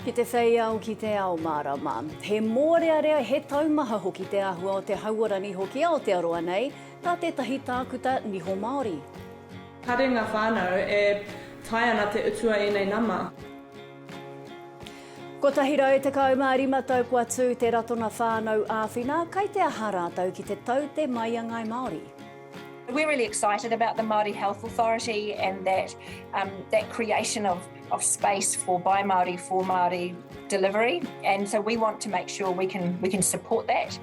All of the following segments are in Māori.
Ki te whei ao, ki te ao mārama. He mōrearea, he taumaha hoki te āhua o te hauora niho ki Aotearoa nei, tā tētahi tākuta niho Māori. Kāre ngā whānau e tae ana te utua ēnei nama. 115 tau kua tū te Ratona Whānau Āwhina, kai te aha rātou ki te tau te mai a Ngāi Māori? We're really excited about the Māori Health Authority and that um that creation of of space for by Māori for Māori delivery and so we want to make sure we can we can support that.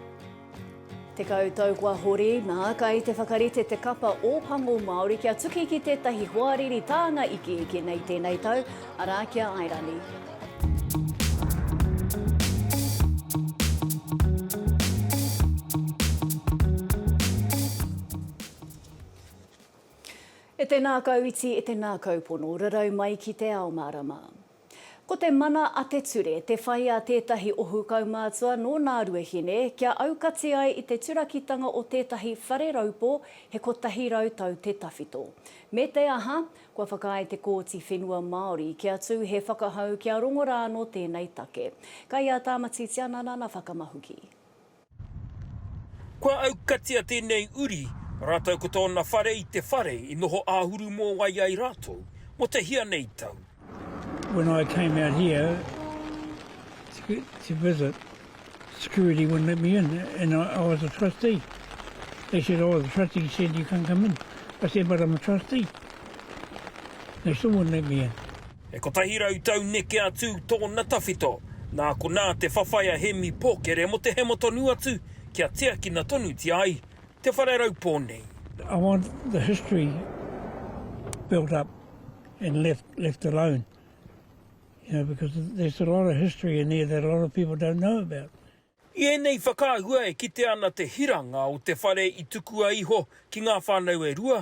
Tekau tau kua hori, nā, kai te whakarite te kapa Ōpango Māori kia tuki ki tētahi hoariri tānga ikiiki nei tēnei tau, arā, ki a Airani. E tēnā kau iti, e tēnā kau pono, rarau mai ki te ao mārama. Ko te mana a te ture te whai a tētahi ohu kaumātua nō Nāruahine kia aukati ai i te turakitanga o tētahi whare raupō he kotahi rau tau te tawhito. Me te aha, kua whakaae te Kōti Whenua Māori kia tū he whakahau kia rongo rā nō tēnei take. Kai a Tāmati Tianana na whakamahuki. Kua aukatia tēnei uri rātou ko tōna whare i te whare i noho āhuru mōwai ai rātou mō te hia nei tau. When I came out here to visit, security wouldn't let me in and I was a trustee. They said, oh, the trustee said you can't come in. I said, but I'm a trustee. They still wouldn't let me in. E kotahi rau tau neke atu tōna tawhito, nā konā te whawhai a Hēmi Pōkere mō te hemo tonu atu kia tiakina tonutia ai te whare raupō nei. I want the history built up and left alone, you know, because there's a lot of history in there that a lot of people don't know about. I ēnei whakaahua e kitea ana te hiranga o te whare i tukua iho ki ngā whānau e rua,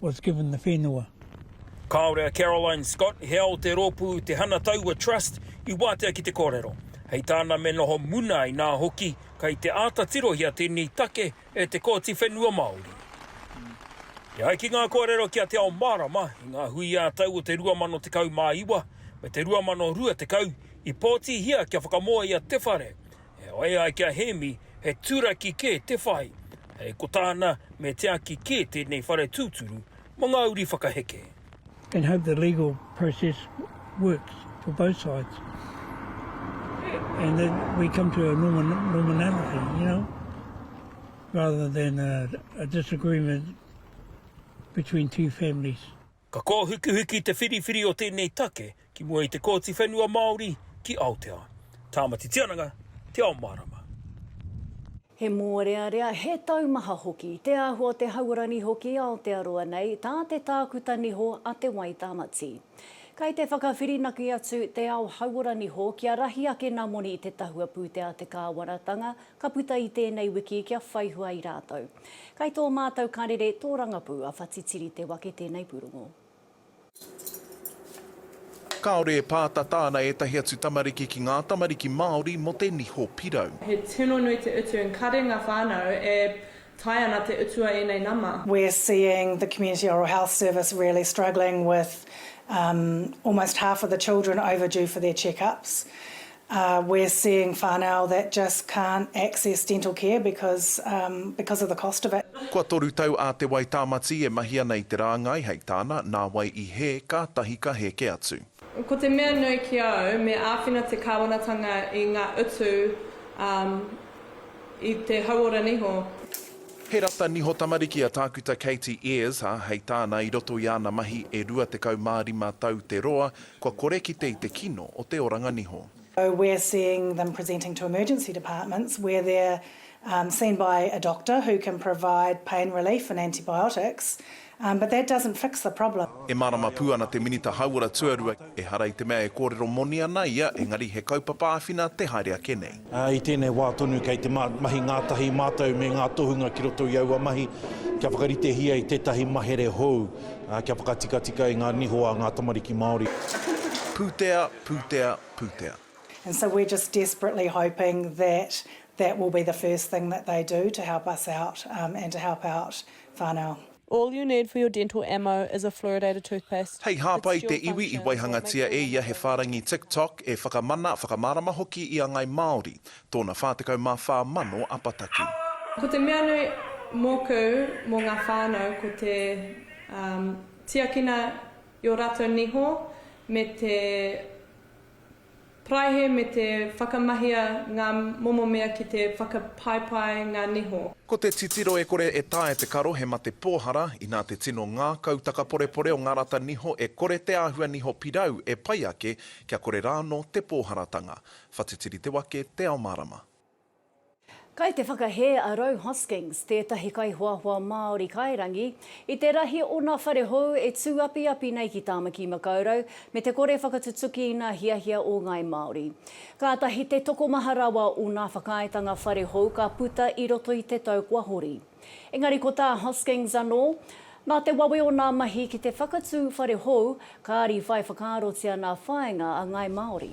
was given the whenua. Kāore a Caroline Scott, hea o te rōpū Te Hana Taua Trust, i wātea ki te kōrero. Hei tāna me noho muna inā hoki kei te āta tirohia tēnei take e te Kōti Whenua Māori. E ai ki ngā kōrero ki a Te Ao Mārama i ngā hui ā-tau o te 2019 me te 2020 i pōtihia kia whakamoe a Te Whare E whai ai ki a Hēmi, he turaki kē te whai, hei ko tāna me tiaki kē tēnei whare tūturu mō ngā uri whakaheke. and hope the legal process works for both sides and that we come to a normality, you know, rather than a disagreement between two families. Ka kōhukihuki te whiriwhiri o tēnei take ki mua i te Kōti Whenua Māori ki Aotea, Tāmati Tiananga, Te Ao Mārama. He mōrearea, he taumaha hoki te āhua o te hauora niho ki Aotearoa nei, tā te tākuta niho a Te Wai Tāmati. Kei te whakawhirinaki atu te ao hauora niho kia rahi ake nā moni i te tahua pūtea a te kāwanatanga Ka puta i tēnei wiki kia whaihua ai rātou. Kai tō mātou karere tōrangapū a Whatitiri te wake tēnei pūrongo. Kāore e pātata ana ētahi atu tamariki ki ngā tamariki Māori mō te niho pirau. He tino nui te utu and kare nga whanau e tae ana te utu a enei nama. We're seeing the Community Oral Health Service really struggling with almost half of the children overdue for their check-ups. Ahh we're seeing whanau that just can't access dental care because umm because of the cost of it. Kua toru tau a Te Wai Tāmati e mahi ana i te rāngai hei tāna, nā wai i hē, kātahi ka hēke atu. Ko te mea nui ki au, me āwhina te Kāwanatanga i ngā utu umm i te hauora niho. He rata niho tamariki a Tākuta Katie Ayres, ā, hei tāna, i roto i āna mahi e 25 tau te roa, Kua kore kite i te kino o te oranga niho. So we're seeing them presenting to emergency departments where they're seen by a doctor who can provide pain relief and antibiotics but that doesn't fix the problem. E mārama pū ana te Minita Hauora Tuarua, ehara i te mea e kōrero moni ana ia engari he kaupapa āwhina te haere ake nei. I tēnei wā tonu kei te mahi ngātahi mātou me ngā tohunga ki roto i aua mahi kia whakaritehia i tētahi mahere hou kia whakatikatika i ngā niho a ngā tamariki Māori. Pūtea, pūtea, pūtea. And so we're just desperately hoping that that will be the first thing that they do to help us out and to help out whānau. All you need for your dental ammo is a fluoridated toothpaste. Hei hāpai te iwi i waihangatia e ia he whārangi TikTok e whakamana, whakamārama hoki i a Ngai Māori, tōna 44 mano apataki. Ko te mea nui mōku mō ngā whānau ko te tiakina i ō rātou niho me te Paraihe me te whakamahia ngā momo mea ki te whakapaepae ngā niho. Ko te titiro e kore e taea te karo he mate pōhara, inā te tino ngākau takaporepore o ngā rata niho e kore te āhua niho pirau e pai ake kia kore rāno te pōharatanga. Whatitiri te wake, te ao mārama. Kei te whakahē a Rou Hoskings, tētahi kaihoahoa Māori kairangi, i te rahi o ngā whare hou e tūapiapi nei ki Tāmaki Makaurau me te kore whakatutuki i ngā hiahia o ngāi Māori. Kātahi te tokomaha rawa o ngā whakaaetanga whare hou ka puta i roto i te tau kua hori. Engari ko tā Hoskings anō, nā te wawe o ngā mahi ki te whakatū whare hou, kāri whai whakaarotia ngā whāinga a ngāi Māori.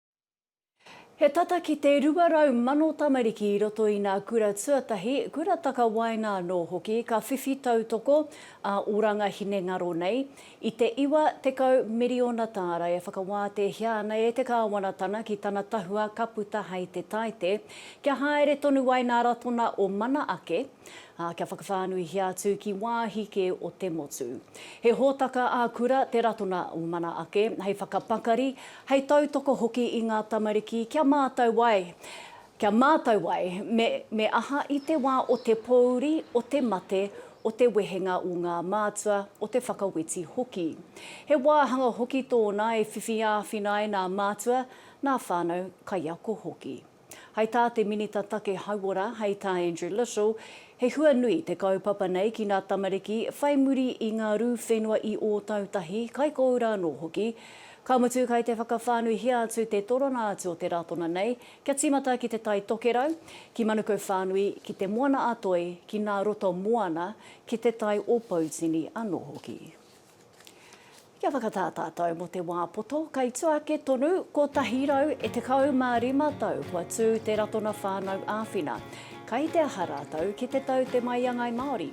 He tata ki te 200,000 tamariki i roto i nā kura tuatahi, kura takawaenga anō hoki ka whiwhi tautoko ā oranga hinengaro nei i te 90 miriona tāra e whakawātehia ana e te Kāwanatanga ki tana tahua ka puta hai te taite kia haere tonu ai nā ratona o mana ake, ā, kia whakawhānuihia atu ki wāhi kē o te motu. He hōtaka ā-kura te ratona o mana ake hei whakapakari Hei tautoko hoki i ngā tamariki kia mātau ai, kia mātau ai me me aha i te wā o te pōuri, o te mate, o te wehenga o ngā mātua, o te whakaweti hoki. He wāhanga hoki tōna e whiwhi āwhina ai nā mātua, nā whānau kaiako hoki. Hai tā te Minita Take Hauora, hei tā Andrew Little, he hua nui te kaupapa nei ki ngā tamariki whai muri i ngā rū whenua i Ōtautahi, Kaikōura anō hoki. Ka mutu kai te whakawhānuihia atu te torona atu o te Ratona nei kia tīmata ki Te Tai Tokerau, ki Manukau whānui, ki Te Moana-a-Toi, ki Nā Roto Moana, ki Te Tai o Poutini anō hoki. Kia whakatā tātou mō te wā poto kei tua ake tonu, 175 tau kua tū te Ratona Whānau Āwhina. Kai te aha rātou ki te tau te maiangai Māori?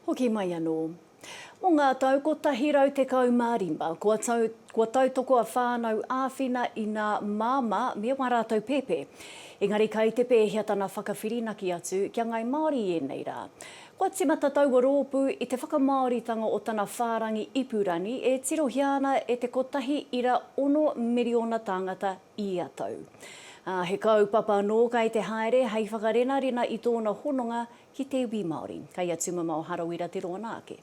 Hoki mai anō. Mō ngā tau 115, kua tau, kua tautoko a Whānau Āwhina i nā māmā me wā rātou pēpē. Engari kai te pēhea tana whakawhirinaki atu kia ngai Māori i ēnei rā? Kua tīmata taua rōpū i te whakamāoritanga o tana whārangi ipurangi e tirohia ana e te kotahi ira ono miriona tāngata ia tau. Ā, he kaupapa anō kai te haere hei whakarenarena i tōna hononga Ki te iwi Māori. Kei a Tumamao Harawira te roa nā ake.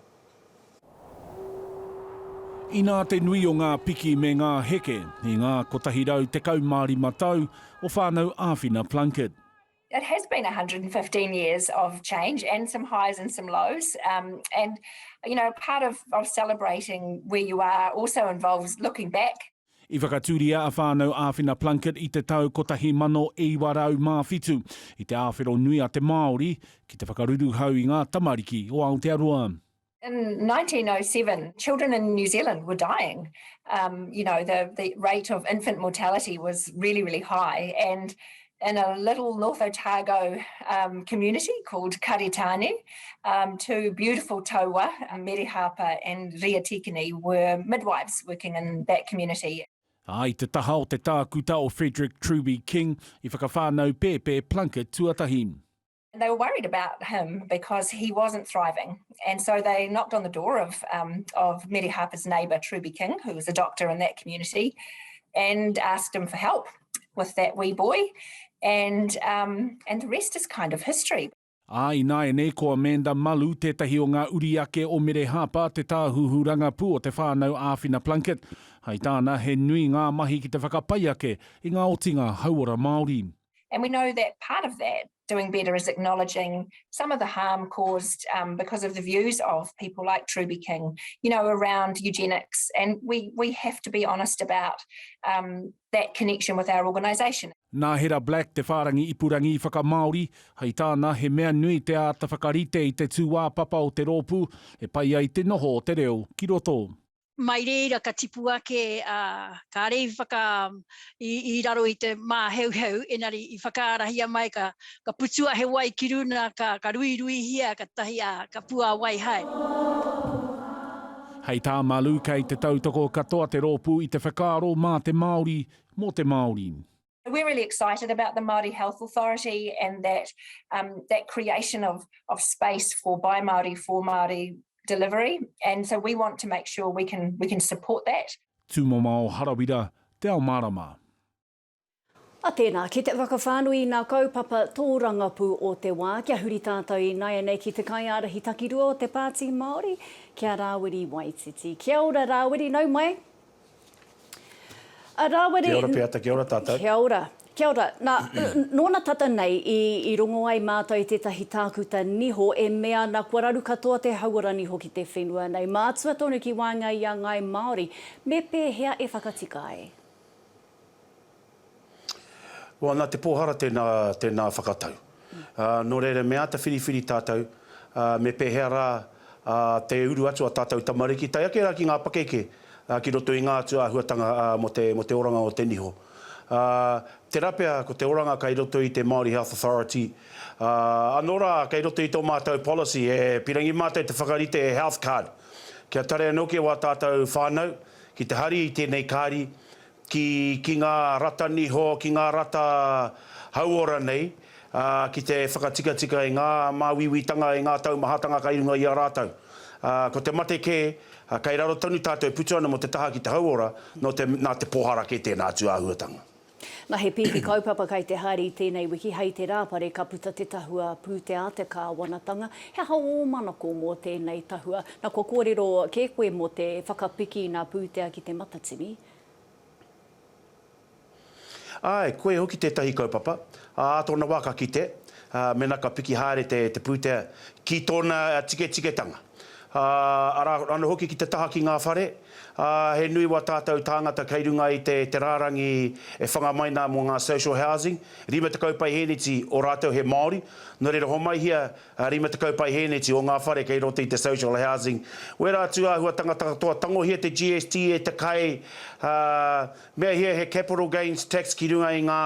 Inā te nui o ngā piki me ngā heke i ngā 115 tau o Whānau Āwhina Plunket. It has been 115 years of change and some highs and some lows and you know part of celebrating where you are also involves looking back I whakatūria a Whānau Āwhina Plunket i te tau 1907 i te āwhero nui a te Māori ki te whakaruruhau i ngā tamariki o Aotearoa. In 1907, children in New Zealand were dying. Um, you know, the, the rate of infant mortality was really, really high and in a little North Otago um, community called Karitane. Um, two beautiful taua, Mere Harper and Ria Tikini, were midwives working in that community. A i te taha o te tākuta o Frederick Truby King, i whakawhānau pēpē Plunkett tuatahi. they were worried about him because he wasn't thriving. And so they knocked on the door of, um, of Mary Harper's neighbour, Truby King, who was a doctor in that community, and asked him for help with that wee boy. And, um, and the rest is kind of history. Ā, ināianei ko Amanda Malu tētahi o ngā uri ake o Mere Harper, te tāhuhu rangapū o te whānau Āwhina Plunkett. Hai tāna, he nui ngā mahi ki te whakapai ake i ngā otinga hauora Māori. And we know that part of that doing better is acknowledging some of the harm caused um, because of the views of people like Truby King, you know, around eugenics. And we, we have to be honest about um, that connection with our organisation. Nā Hera Black te whārangi ipurangi whakamāori, hei tāna he mea nui te āta whakarite i te tūāpapa o te rōpū e pai ai te noho o te reo ki roto. mai reira ka tipu ake, ā, kāre i whaka, i, i raro i te māheuheu, enari i whakaarahia mai ka, ka putua he wai ki runa, ka, ka ruiruihia ka tahi, ā, ka puāwai hai. Hei tā Malu kei te tautoko katoa te rōpū i te whakaaro mā te Māori, mō te Māori. We're really excited about the Māori Health Authority and that um, that creation of, of space for by Māori, for Māori delivery. And so we want to make sure we can, we can support that. Tūmama o Harawira, Te Ao Mārama. A tēnā, ki te whakawhānui i nā kaupapa tōrangapū o te wā, kia huri tātou i naianei ki te kaiārahi takirua o te Pāti Māori, ki a Rāwiri Waititi. Kia ora Rāwiri, nau mai! Rāwiri. Kia ora Peata, kia ora tātou. Kia ora, kia ora. Nā, nōna tata nei i, i rongo ai mātou i tētahi tākuta niho e mea ana kua raru katoa te hauora niho ki te whenua nei. Mātua tonu ki waenga i a ngāi Māori, me pēhea e whakatika ai? Wā, nā te pōhara tēnā, tēnā whakatau. Nō reira, me āta whiriwhiri tātou, me pēhea rā te uru atu a tātou tamariki, tae ake rā ki ngā pakeke, ki roto i ngā atu āhuatanga mō te, mō te oranga o te niho. Tērā pea ko te oranga kei roto i te Māori Health Authority, anō rā, kei roto i tō mātou policy, e pīrangi mātou te whakarite e Health Card. Kia tare anō kē wā tātou whānau ki te hari i tēnei kāri, ki, ki ngā rata niho, ki ngā rata hauora nei, ā, ki te whakatikatika i ngā māuiuitanga, i ngā taumahatanga kai runga i a rātou. Ā, ko te mate kē, ā, kai raro tonu tātou e putu ana mō te taha ki te hauora, nō te, nā te pōhara kē tēnā atu āhuatanga. Na he pīki kaupapa kai te haere i tēnei wiki hei te rāpare ka puta te tahua pūtea te kāwanatanga, he aha ō manako mō tēnei tahua? Na kua kōrero kē koe mō te whakapiki i nā pūtea ki Te Matatini? Āe, koia hoki tētahi kaupapa. Ā tōna wā ka kite, ā, mēnā ka piki haere te, te pūtea ki tōna tiketiketanga. Ā, arā anō hoki ki te taha ki ngā whare, ā, he nui wā tātou tāngata kei runga i te, te rārangi e whanga mai nā mō ngā social housing, 50 paiheneti o rātou he Māori, nō reira homaihia 20 paihēneti o ngā whare kei roto i te social housing. Wērā atu āhua tangata katoa, tangohia te GST e te kai, ā, meahia he capital gains tax ki runga i ngā,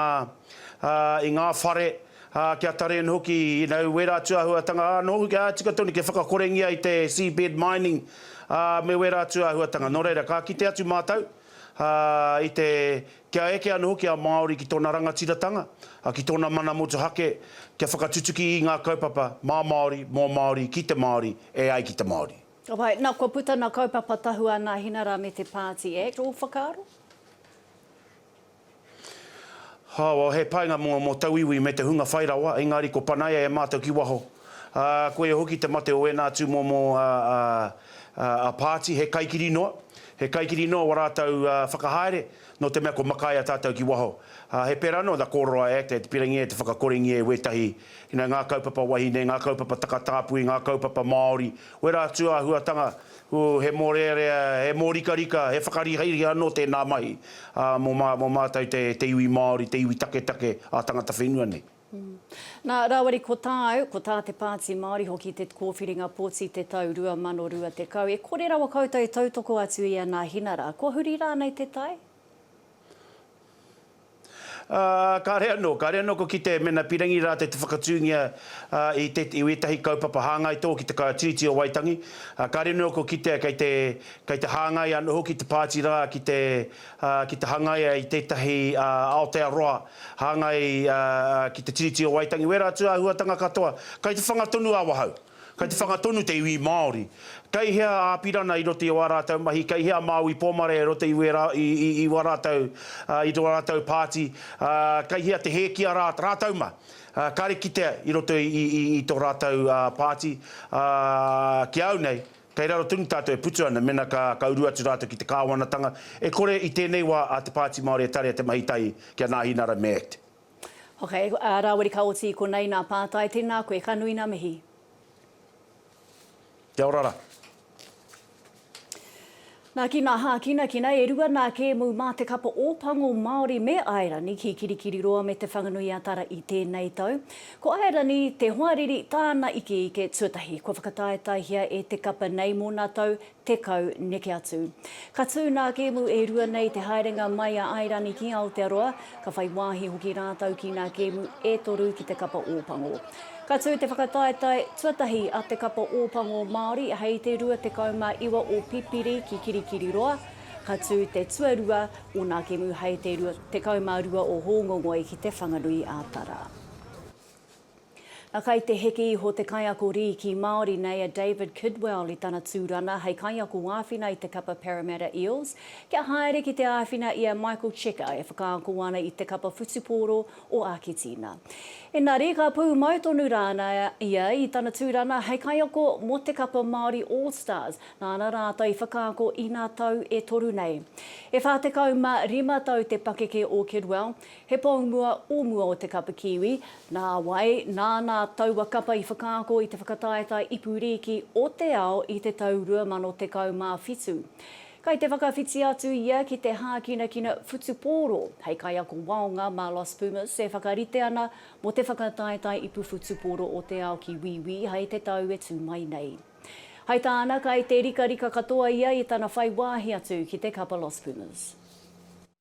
ā, i ngā whare, ā, kia tari ana hoki, you know, wērā atu āhuatanga, ā, nō hoki, ā, tika tonu kia whakakorengia i te seabed mining, ā, me wērā atu āhuatanga. Nō reira, ka kite atu mātou, ā, i te Kia eke anō hoki a Māori ki tōna rangatiratanga, ki tōna mana motuhake, kia whakatutuki i ngā kaupapa mā Māori, mō Māori, ki te Māori, e ai ki te Māori. Ka pai. Nā, kua puta nā kaupapa tahua nā Hinara me Te Pāti Act. Ō whakaaro? Hāwau, he painga mō, mō tauiwi me te hunga whai rawa, engari ko Panaia e mātau ki waho. Ā, koia hoki te mate o ēnā tūmomo a Pāti, he kaikiri noa, he kaikiri noa wā rātou whakahaere, nō te mea kua makaia tātou ki waho. Ā, he pērā noa the Kōroroa Act e te pirangia e te whakakorengia e wētahi, ina ngā kaupapa wahine, ngā kaupapa takatāpui, ngā kaupapa Māori, wērā atu āhuatanga, ū, he mōrearea, he mōrikarika, he whakarihariha anō tēnā mahi, ā, mō mātou te iwi Māori, te iwi taketake, ā-tangata whenua nei. Nā, rāwari ko tāu, ko tā te Pāti Māori hoki te kōwhiringa poti te tau 2020. E kore rawa koutou e tautoko atu i a Nāhinara, kua huri rānei te tai? Kāre anō, kāre anō kua kitea mēnā pīrangi rātou te whakatūngia i te, i wētahi kaupapa hāngai tō ki te Kaiā Tiriti o Waitangi. Kāre anō kua kitea kei te, kei te hāngai anō hoki te pāti rā ki te ā, ki te hangaia i tētahi Aotearoa hāngai ki te Tiriti o Waitangi, wērā atu āhuatanga katoa, kei te whanga tonu a Wahau, kei te whanga tonu te iwi Māori. Kei hea a Apirana i roto i ō rātou mahi, kei hea Māui Pōmare i roto i wā rātou, i tō rātou pāti, ā, kei hea te hē ki a rātou mā, kāre kitea i roto i tō rātou pāti, ā, ki a au nei, Kei raro tonu tātou e putu ana, mena ka, ka uru atu rātou ki te Kāwanatanga, e kore i tēnei wā a Te Pāti Māori e tarea te mahi tahi ki a Nāhi Nara me ect. Ok, a Rawiri ka oti i konei nā Pātai, tēnā koe, ka nui nā mihi. Kia ora ra. Nā ki ngā hākinakina e rua nā Kēmu mā te kapa Ōpango Māori me Airani ki Kirikiriroa me Te Whanganui-a-Tara i tēnei tau. Ko Airani te hoariri tāna ikeike tuatahi kua whakataetaehia e te kapa nei mō nā tau tekau neke atu. Ka tū nā Kēmu e rua nei te haerenga mai a Airani ki Aotearoa, Ka whai wāhi hoki rātou ki ngā kēmu e toru ki te kapa Ōpango. Ka tū te whakataetae tuatahi a te kapa Ōpango Māori hei te 29 o Pipiri ki Kirikiriroa, ka tū te tuarua o nā kēmu hei te 22 o Hōngongoi ki Te Whanganui-ā-Tara. Na kai te heke iho te kaiako rīki Māori nei a David Kidwell i tana tūrana hei kaiako āwhina i te kapa Parramatta Eels kia haere ki te āwhina i a Michael Cheika e whakaako ana i te kapa whutupōro o Āketīna. Engari ka pūmau tonu rāna ia i tana tūrana hei kaiako mō te kapa Māori All Stars nāna rātou i whakaako inā tau e toru nei. E 45 tau te pakeke o Kidwell, He pou mua o mua o te kapa Kiwi, nā wai, nāna taua kapa i whakaako i te whakataetae ipu rīki o te ao i te tau 2017. Kai te whakawhiti atu ia ki te hākinakina whutupōro hei kaiako waonga mā Los Pumas e whakarite ana mō te whakataetae ipu whutupōro o te ao ki Wīwī hei te tau e tū mai nei. Hai tāna, kai te rikarika katoa ia i tana whai wāhi atu ki te kapa Los Pumas.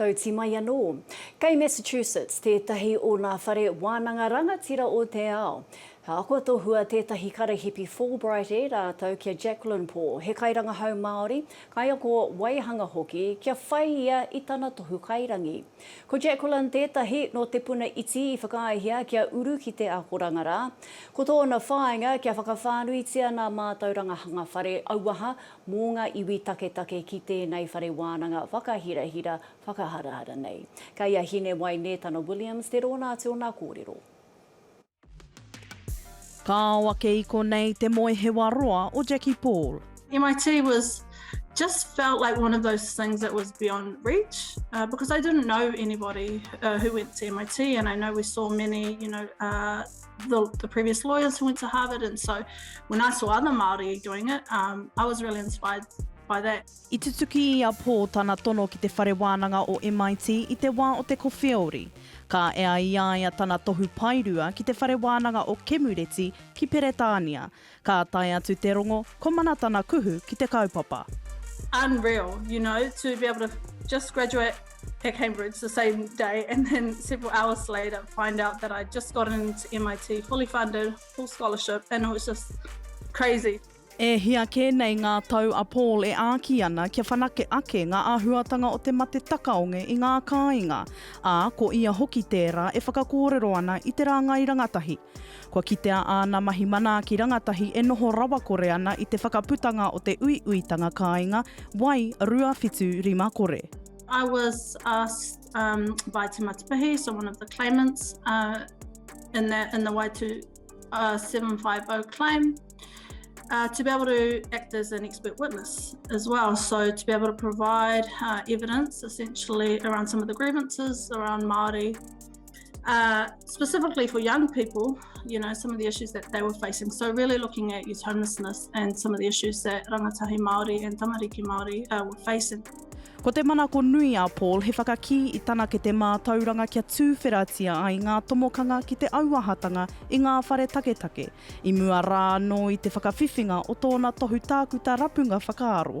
Tauti mai anō. Kei Massachusetts tētahi o nā whare wānanga rangatira o te ao. Ka ako tohua tētahi karahipi Fulbright e rātou ki a Jacqueline Paul, he kairangahau Māori, kaiako waihanga hoki, kia whai ia i tana tohu kairangi. Ko Jacqueline tētahi nō te puna iti i whakaaehia kia uru ki te akoranga rā. Ko tōna whāinga kia whakawhānuitia nā mātauranga hanga whare auaha mō ngā iwi taketake ki tēnei whare wānanga whakahirahira, whakaharahara nei. Kei a Hinewai Nētana Williams te rōna atu o nā kōrero. Ka ao ake i konei te moehewa roa o Jackie Paul. MIT was just felt like one of those things that was beyond reach because I didn't know anybody who went to MIT and I know we saw many you know the, the previous lawyers who went to Harvard. And so when I saw other Māori doing it, um, I was really inspired by that. I tutuki i a Paul tana tono ki te whare wānanga o MIT i te wā o te kowheori. Ka ea i a ia tana tohu paerua ki te whare wānanga o Kemureti ki Peretānia, Ka tae atu te rongo, ko Mana tana kuhu ki te kaupapa. Unreal, you know, to be able to just graduate at Cambridge the same day and then several hours later find out that I'd just got into MIT fully funded, full scholarship and it was just crazy. E hia kē nei ngā tau a Paul e āki ana kia whanake ake ngā āhuatanga o te mate takaonge i ngā kāinga, ā, ko ia hoki tērā e whakakōrero ana i te rāngai rangatahi. Kua kitea āna mahi manaaki rangatahi e noho rawakore ana i te whakaputanga o te uiuitanga kāinga, Wai, 275, kore. I was asked um by Te Matipahi, so one of the claimants uh in the in the Wai 2750 claim uh to be able to act as an expert witness as well, so to be able to provide uh evidence essentially around some of the grievances around Māori uh, specifically for young people, you know, some of the issues that they were facing. So really looking at youth homelessness and some of the issues that rangatahi Māori and tamariki Māori uh, were facing. Ko te manako nui a Paul he whakakī i tana ke te mātauranga kia tūwheratia ai ngā tomokanga ki te auahatanga i ngā whare taketake, i mua rā anō i te whakawhiwhinga o tōna tohu tākuta rapunga whakaaro.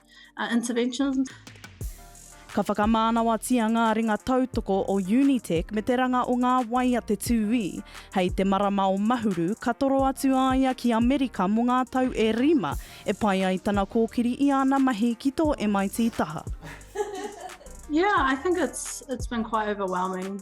uh, interventions. Ka whakamānawatia ngā ringa tautoko o Unitec me te ranga o ngā wai a te tūī. Hei te marama o Mahuru, ka toro atu a ia ki Amerika mō ngā tau e rima e pai ai tana kōkiri i āna mahi ki tō MIT taha. Yeah, I think it's it's been quite overwhelming.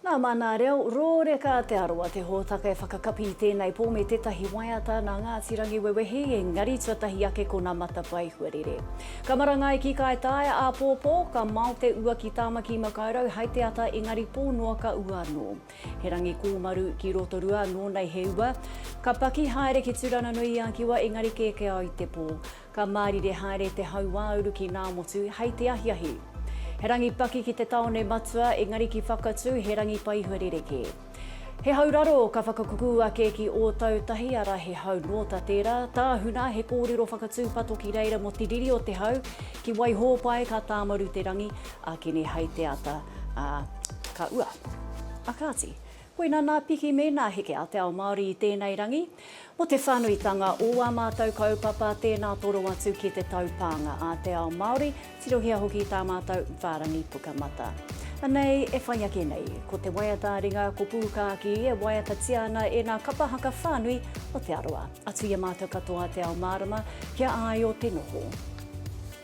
Nā Mānā Reo, Rōreka Te Arawa te hōtaka e whakakapi i tēnei pō me tētahi waiata nā Ngāti Rangiwewehi, engari tuatahi ake ko nā Matapae Huarere. Ka marangai ki Kaitaia āpōpō, ka mao te ua ki Tāmaki Makaurau hai te ata engari pō noa ka ua anō. He rangi kōmaru ki Rotorua nō nei he ua. Ka paki haere ki Tūranganui-i-a-Kiwa engari kēkēao i te pō. Ka mārire haere te hauāuru ki Ngāmotu hei te ahiahi. He rangi paki ki te tāone matua, engari ki Whakatū he rangi paihua rerekē. He hau raro ka whakakukū ake ki Ōtautahi, arā he hau nōta tērā. Tāhuna, he kōrero whakatūpato ki reira mō te riri o te hau. Ki Waihōpae ka tāmaru te rangi, ākene hei te ata, ā, ka ua. A kāti, Koinā nā piki me nā heke a te ao Māori i tēnei rangi. Mō te whānuitanga o ā mātou kaupapa, tēnā toro atu ki te taupānga a te ao Māori, tirohia hoki tā mātou whārangi Pukamata. Anei e whai ake nei, ko te waiata ringa ko Pūkākī e waiatatia ana e nā kapa haka whānui o Te Arawa. Atu i a mātou katoa te ao mārama kia āio te noho.